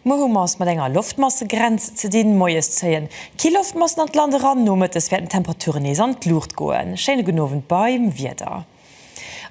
Muer hu mer es mat enger Loftmassegrenz ze dinn. Moies zéien kill Loftmassen an d'Land eran, nomëttes wäerten d'Temperaturen nees an d'Luucht goen. Schéine gudden Owend beim Wieder.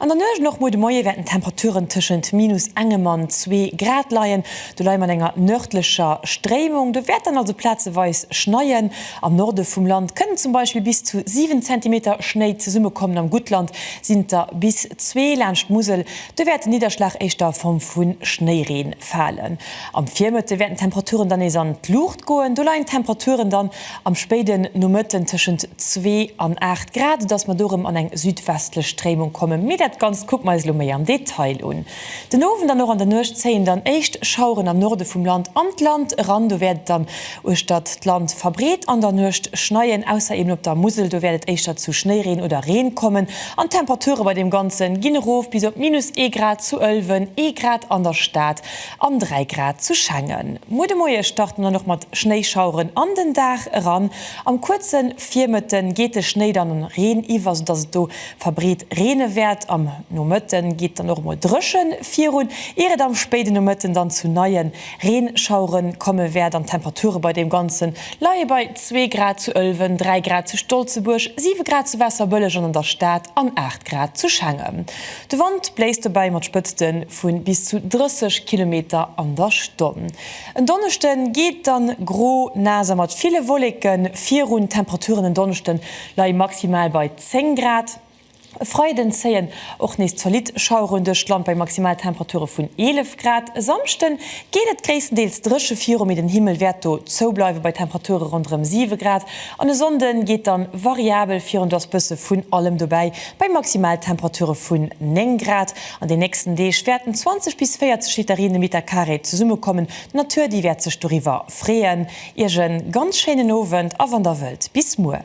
An der Nuecht an och muer de Moie wäerten d'Temperaturen tëschent minus engem an zwee Grad leien. Do leie mat enger nërdlecher Stréimung. Do wäert dann also plazeweis schneien. Am Norde vum Land kënnen zum Beispill bis zu 7 Zentimeter Schnéi zesummekommen. Am Guttland sinn et der bis zwee. Laanscht d'Musel do wäert den Nidderschlag éischter a Form vu Schnéireen falen. Am Virmëtte wäerten d'Temperaturen dann nees an d'Luucht goen. Do leien d'Temperaturen dann Am spéiden Nomëtten tëschent zwee an aacht Grad, soudass mer do erëm an eng südwestlech Stréimung kommen. Mee dat Ganzt kucke mer eis elo méi am Detail un. Den Owend an och an der Nuecht zéien dann éischt Schaueren am Norde vum Land an d'Land eran. Do wäert et dann uechtert d'Land verbreet an der Nuecht schneien, ausser eben op der Musel. Do wäert et éischter zu Schnéireen oder Reen kommen an d'Temperature bei deem Ganze ginn erof bis op minus ee Grad zu Ëlwen, ee Grad an der Stad An 3 Grad zu Schengen. Muer de Moie start en dann och mat Schnéischaueren an den Dag eran. Am kuerze Virmëtte geet de Schnéi dann an Reen iwwer, sou dass et do verbreet reene wäert. Am Nomëtte geet dann och emol dréche virun, ier et am spéide Nomëtten dann zu neie Reenschauere komme wäert. An d'Temperature bei deem Ganze leie bei 2 Grad zu Ëlwen, 3 Grad zu Stolzebuerg, 7 Grad zu Waasserbëlleg an an der Stad an 8 Grad zu Schengen. De Wand bléist dobäi mat Spëtzte vu bis zu 30 Kilometer an der Stonn. En Donneschde geet et dann gro, naass a mat ville Wolleke virun. D'Temperaturen en Donneschde leie maximal bei 10 Grad. E Freiden zéien och nees zolitt Schaueren duerch d'Land bei Maximaltemperature vun 11 Grad. E Samschde geet et gréisstendeels dréche viru, mee den Himmel wäert do zoubleiwe bei Temperature ronderëm 7 Grad. An e Sonnde geet dann variabel virun, do ass bësse vun allem dobäi. Bei Maximaltemperature vun 9 Grad an den nächsten Deeg wäerten 20 bis 40 Liter Reen de Meter Carré zesummekommen. D'Natur, déi wäert sech doriwwer freeën. Iech e ganz schéinen Owend a wann der wëllt, bis muer.